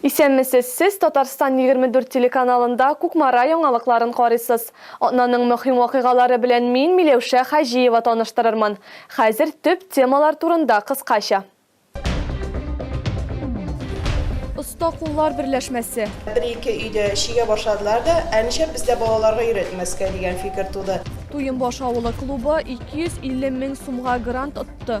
Исәнмесез, сез Татарстан 24 телеканалында Кукмара яңалыкларын карыйсыз. Атнаның мөһим вакыйгалары белән мин Миләүшә Хаҗиева таныштырырмын. Хәзер төп темалар турында кыскача. Оста куллар берләшмәсе. Бер-ике өйдә чигә башладылар да, Ә нишләп бездә балаларга өйрәтмәскә, дигән фикер туды. Туембаш авылы клубы 250 мең сумга грант отты.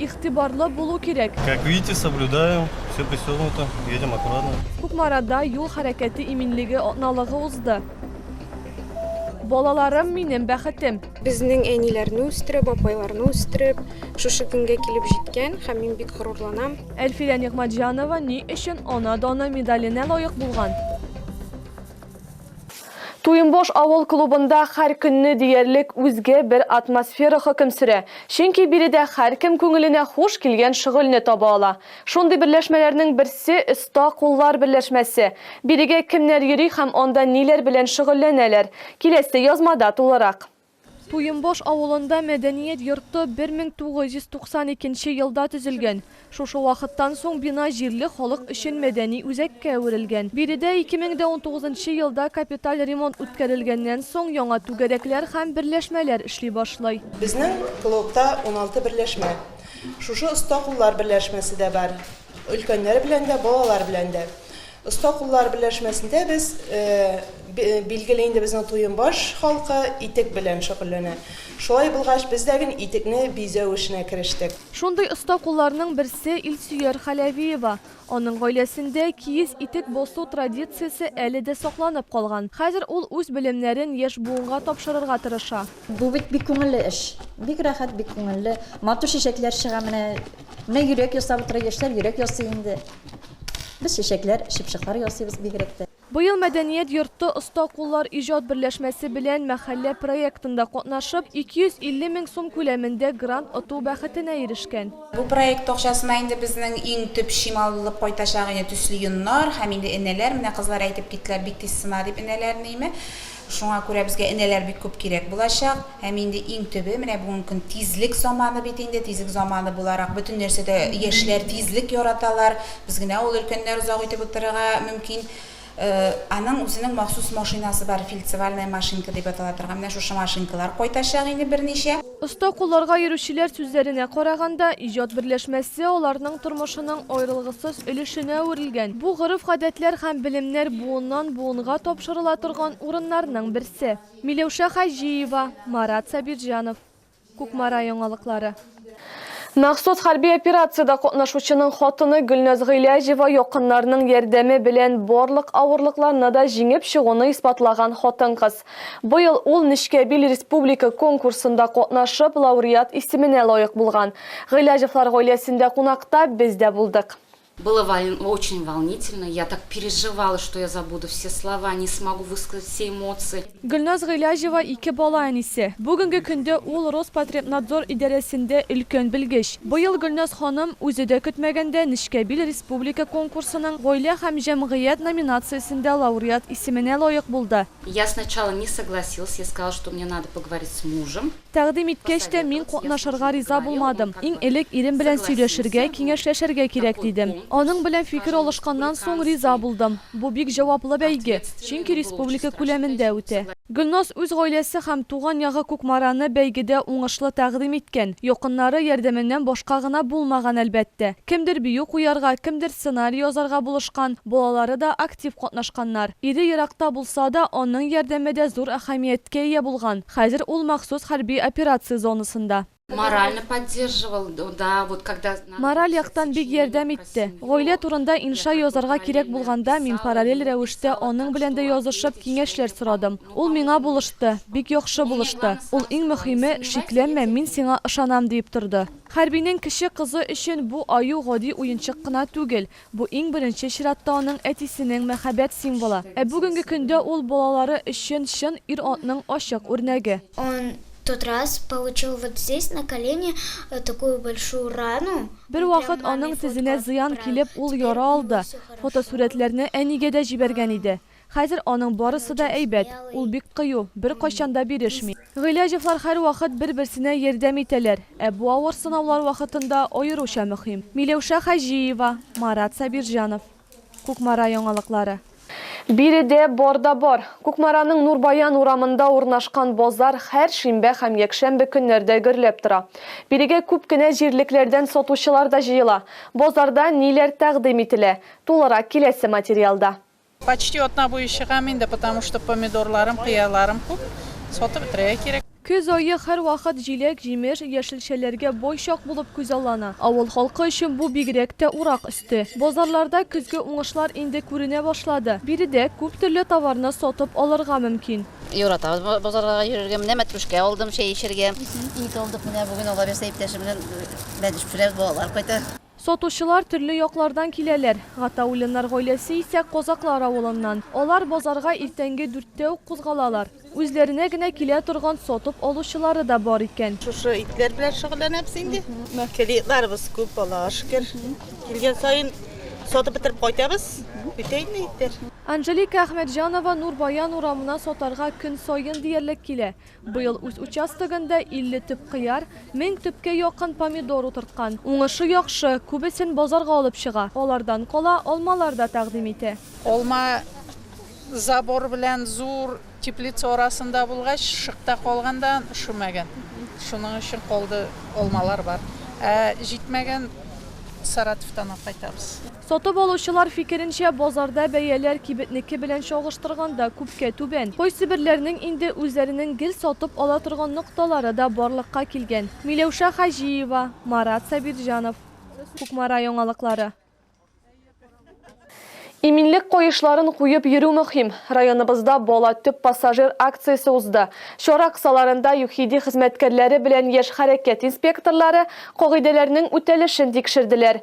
Игътибарлы булу кирәк. Как видите, соблюдаем, все пристегнуто, едем аккуратно. Кукмарада юл хәрәкәте иминлеге атналыгы узды. Балаларым минем бәхетем. Безнең әниләрне үстереп, апайларны үстереп, шушы көнгә килеп җиткән һәм мин бик горурланам. Әлфирә Нигъмәтҗанова ни өчен Ана даны медаленә лаек булган? Туембош авыл клубында хәр көнне диярлек үзге бер атмосфера хөкем сөрә, чөнки биредә хәркем күңеленә хуш килгән шөгыльне таба ала. Шундый берләшмәләрнең берсе, Оста куллар берләшмәсе. Бирегә кемнәр йөри һәм анда ниләр белән шөгыльләнәләр? Киләсе язмада тулырак. Туембаш авылында мәдәният йорты 1992 елда төзелгән. Шушы вакыттан соң бина җирле халык өчен мәдәни үзәккә әверелгән. Биредә 2019 елда капиталь ремонт үткәрелгәннән соң яңа түгәрәкләр һәм берләшмәләр эшли башлый. Безнең клубта уналты берләшмә, шушы оста куллар берләшмәсе дә бар. Өлкәннәр белән дә, балалар белән дә. Оста куллар берләшмәсендә без, билгеле инде безнең Туембаш халкы итек белән шөгыльләнә. Шулай булгач, без дә гел итекне бизәү эшенә керештек. Шундый оста кулларның берсе Илсөяр Халәвиева. Аның гаиләсендә киез итек басу традициясе әле дә сакланып калган. Хәзер ул үз белемнәрен яшь буынга тапшырырга тырыша. Бу бит бик күңелле эш. Бик рәхәт, бик күңелле. Матур чәчәкләр чыга менә. Менә йөрәк ясап утыра, яшьләр йөрәк ясый инде. Без чәчәкләр, чыпчыклар ясыйбыз бигрәк тә. Быел Мәдәният йорты Оста куллар иҗат берләшмәсе белән Мәхәллә проектында катнашып, 250 мең сум күләмендә грант оту бәхетенә ирешкән. Бу проект акчасына инде безнең иң төп чим алынып кайтачак иде, төсле йоннар һәм инде энәләр, менә кызлар әйтеп киттеләр, бик тиз сына дип энәләрне име. Шуңа күрә безгә энәләр бик күп кирәк булачак. Һәм инде иң төбе, менә бүгенге көн тизлек заманы бит инде. Тизлек заманы буларак, бөтен нәрсәдә яшьләр тизлек яраталар. Без генә ул, өлкәннәр озак үтеп утырырга мөмкин. Аның үзенең махсус машинасы бар, фельдцевальная машинка дип атала торган. Менә шушы машинкалар кайтачак инде берничә. Оста кулларга йөрүчеләр сүзләренә караганда, иҗат берләшмәсе аларның тормышының аерылгысыз өлешенә әверелгән. Бу гореф-гадәтләр һәм белемнәр буыннан-буынга тапшырыла торган урыннарның берсе. Миләүшә Хаҗиева, Марат Сабирҗанов. Кукмара яңалыклары. Махсус хәрби операциядә катнашучының хатыны Гөлназ Гыйләҗева якыннарының ярдәме белән барлык авырлыкларны да җиңеп чыгуны исбатлаган хатын-кыз. Быел ул Нечкәбил республика конкурсында катнашып, лауреат исеменә лаек булган. Гыйләҗевлар гаиләсендә кунакта без дә булдык. Было очень волнительно, я так переживала, что я забуду все слова, не смогу высказать все эмоции. Гөлназ Гыйләҗева, ике бала әнисе. Бүгенге көндә ул Роспотребнадзор идарәсендә өлкән белгеч. Быел Гөлназ ханым, үзе дә көтмәгәндә, Нечкәбил Публика конкурсының Гаилә һәм җәмгыять номинациясендә лауреат исеменә лаек булды. Я сначала не согласился, я сказал, что мне надо поговорить с мужем. Тәкъдим иткәч тә, мин катнашырга риза булмадым. Иң элек ирем белән сөйләшергә, киңәшләшергә кирәк, дидем. Аның белән фикер алышканнан соң, риза булдым. Бу бик җаваплы бәйге, чөнки республика күләмендә үтә. Гөлназ үз гаиләсе һәм туган ягы Кукмараны бәйгедә уңышлы тәкъдим иткән. Якыннары ярдәменнән башка гына булмаган, әлбәттә. Кемдер бию куярга, кемдер сценарий язарга булышкан, балалары да актив катнашканнар. Ире еракта булса да, аның ярдәме дә зур әһәмияткә ия булган, хәзер ул махсус хәрби операция зонасында. Морально поддерживал, да, вот когда надо было Мораль писать яктан бик сочинение ярдәм про итте. семью, Гаилә турында я инша как бы язарга кирәк параллельно булганда, мин писала, параллель ему рәвештә писала, аның так белән дә что от язышып, него киңәшләр сочинение сорадым. помогло, Ул миңа помогло булышты, министерству. бик яхшы Ну, мне булышты. главное, Ул сразу иң сказал, не мөһиме, сомневайтесь во мне, шикләнмә, мин сиңа ышанам, диеп торды. Хәрбинең кече кызы өчен бу аю гади уенчык кына түгел, бу иң беренче чиратта аның әтисенең мәхәббәт символы, ә бүгенге көндә ул балалары өчен чын ир-атның ачык үрнәге. Он тот раз получил вот здесь на колени такую большую рану, он прям Бервакыт аның маме тезенә фотку зыян отправил, килеп, ул теперь у яра него алды, всё хорошо. фотосурәтләрне әнигә дә җибәргән иде. Хәзер аның барысы да әйбәт, ул бик кыю, беркайчан да бирешми. Гыйләҗевлар һәрвакыт бер-берсенә ярдәм итәләр, ә бу авыр сынаулар вакытында аеруча мөһим. Миләүшә Хаҗиева, Марат Сабирҗанов. Кукмара яңалыклары. Биредә бар да бар. Кукмараның Нурбаян урамында урнашкан базар һәр шимбә һәм якшәмбе көннәрдә гөрләп тора. Бирегә күп кенә җирлекләрдән сатучылар да җыела. Базарда ниләр тәкъдим ителә? Тулырак киләсе материалда. Почти атна буе чыгам инде, потому что помидорларым, кыярларым күп, сатып бетерергә кирәк. Көз ае һәрвакыт җиләк, җимеш, яшелчәләргә бай чак булып күзаллана. Авыл халкы өчен бу бигрәк тә урак өсте. Базарларда көзге уңышлар инде күренә башлады. Биредә күп төрле товарны сатып алырга мөмкин. Яратабыз базарларга йөрергә. Менә мәтрүшкә алдым, чәй эчәргә. Ит алдык, менә бүген алабирса иптәшем белән бәдеш пешерәбез, балалар кайта. Сатучылар төрле яклардан киләләр. Гатауллиннар гаиләсе исә Козаклар авылыннан. Алар базарга иртәнге дүрттә үк кузгалалар. Үзләренә генә килә торган сатып алучылары да бар икән. Шушы итләр белән шөгыльләнәбез инде. Клиентларыбыз күп, Аллага шөкер. Килгән саен сатып бетереп кайтабыз. Бетә инде итләр. Анжелика Әхмәтҗанова Нур Баян урамына сатарга көн саен диярлек килә. Быел үз участогында 50 төп кыяр, 1000 төпкә якын помидор утырткан. Уңышы яхшы, күбесен базарга алып чыга. Алардан кала, алмалар да тәкъдим итә. Алма забор белән зур теплица арасында булгач, шыкта калганда шөмәгән. Шуның өчен калды, алмалар бар. Ә җитмәгән Саратовтан алып кайтабыз. Сатып алучылар фикеренчә, базарда бәяләр кибетнеке белән чагыштырганда күпкә түбән. Кайсыберләрнең инде үзләренең гел сатып ала торган нокталары да барлыкка килгән. Миләүшә Хаҗиева, Марат Сабирҗанов. Кукмара яңалыклары. Иминлек каешларын куеп йөрү мөһим. Районыбызда Бала төп пассажир акциясе узды. Чара кысаларында ЮХИДИ хезмәткәрләре белән яшь хәрәкәт инспекторлары кагыйдәләрнең үтәлешен тикшерделәр.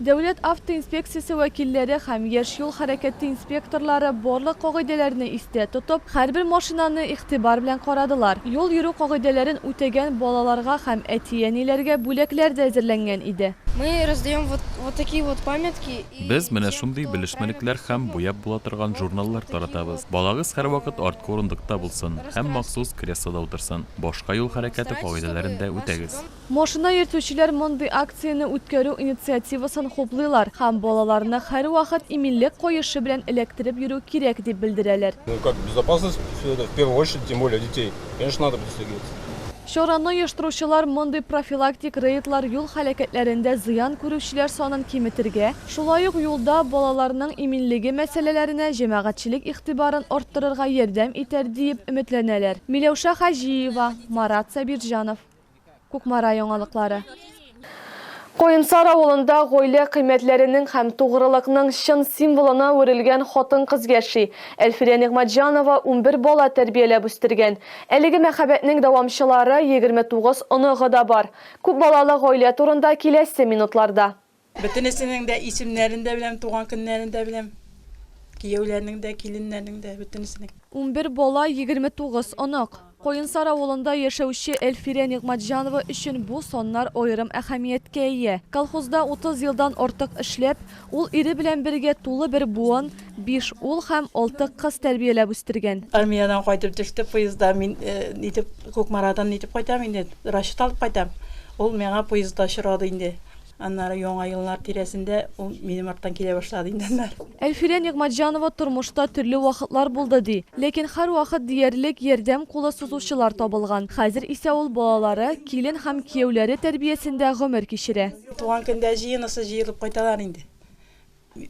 Дәүләт автоинспекциясе вәкилләре һәм яшь юл хәрәкәте инспекторлары барлык кагыйдәләрне истә тотып, һәрбер машинаны игътибар белән карадылар. Юл йөрү кагыйдәләрен үтәгән балаларга һәм әти-әниләргә бүләкләр дә әзерләнгән иде. Мы раздаем вот вот такие вот памятки и. Без менә шундый белешмәлекләр һәм буяп була торган журналлар таратабыз. Балагыз һәрвакыт арткы урындыкта булсын һәм махсус креслода утырсын. Башка юл хәрәкәте кагыйдәләрен дә үтәгез. Машина йөртүчеләр мондый акцияне үткәрү инициативасын хуплыйлар һәм балаларны һәрвакыт иминлек каешы белән эләктереп йөрү кирәк дип белдерәләр. Чараны оештыручылар мондый профилактик рейдлар юл һәлакәтләрендә зыян күрүчеләр санын киметергә, шулай ук юлда балаларның иминлеге мәсьәләләренә җәмәгатьчелек игътибарын арттырырга ярдәм итәр диеп өметләнәләр. Миләүшә Хаҗиева, Марат Сабирҗанов. Кукмара яңалыклары. Каенсар авылында гаилә кыйммәтләренең һәм тугрылыкның чын символына әверелгән хатын-кыз яши. Әлфирә Нигъмәтҗанова унбер бала тәрбияләп үстергән. Әлеге мәхәббәтнең дәвамчылары, егерме тугыз оныгы да бар. Күпбалалы гаилә турында киләсе минутларда. Бөтенесенең дә исемнәрен дә беләм, туган көннәрен дә беләм. Кияүләрнең дә, киленнәрнең дә, бөтенесенең. Унбер бала, егерме тугыз онык. Каенсар авылында яшәүче Әлфирә Нигъмәтҗанова өчен бу саннар аерым әһәмияткә ия. Колхозда утыз елдан артык эшләп, ул ире белән бергә тулы бер буын, биш ул һәм алты кыз тәрбияләп үстергән. Армиядән кайтып төште поездда. Мин нитеп, Кукмарадан нитеп кайтам инде, расчет алып кайтам. Ул миңа поездда очрады инде. Аннары Яңа еллар тирәсендә ул минем арттан килә башлады инде аннары. Әлфирә Нигъмәтҗанова тормышта төрле вакытлар булды ди. Ләкин һәрвакыт диярлек ярдәм кулы сузучылар табылган. Хәзер исә ул балалары, килен һәм кияүләре тәрбиясендә гомер кичерә. Туган көндә җыенысы җыелып кайталар инде.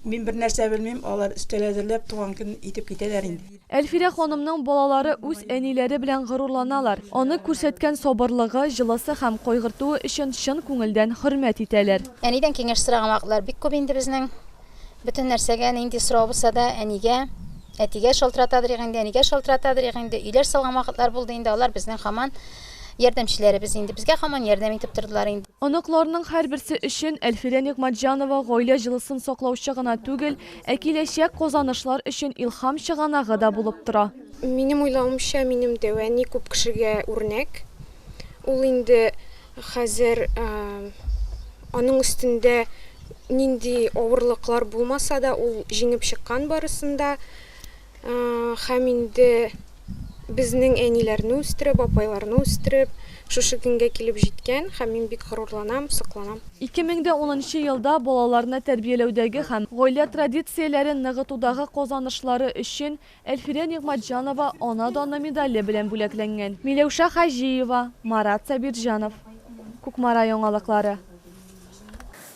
Мин бернәрсә белмим, алар өстәл әзерләп, туган көн итеп китәләр инде. Әлфирә ханымның балалары үз әниләре белән горурланалар, аны күрсәткән сабырлыгы, җылысы һәм кайгыртуы өчен чын күңелдән хөрмәт итәләр. Әнидән киңәш сораган вакытлар бик күп инде безнең. Бөтен нәрсәгә, нинди сорау булса да, әнигә, әтигә шалтыратадырык инде, әнигә шалтыратадырык инде. Өйләр салган вакытлар булды инде, алар безнең хаман. Ярдәмчеләребез инде безгә һаман ярдәм итеп тордылар инде. Оныкларның һәрберсе өчен Әлфирә Нигъмәтҗанова гаилә җылысын саклаучы гына түгел, ә киләчәк казанышлар өчен илһам чыганагы да булып тора. Минем уйлавымча, минем дәү әни күп кешегә үрнәк. Ул инде хәзер аның өстендә нинди авырлыклар булмаса да, ул җиңеп чыккан барысын да. Хәм инде безнең әниләрне үстереп, апайларны үстереп, шушы көнгә килеп җиткән хәм мин бик горурланам, сокланам. 2010 нчы елда балаларны тәрбияләүдәге хәм гаилә традицияләрен ныгытудагы казанышлары өчен Әлфирә Нигъмәтҗанова Ана даны медале белән бүләкләнгән. Миләүшә Хаҗиева, Марат Сабирҗанов, Кукмара яңалыклары.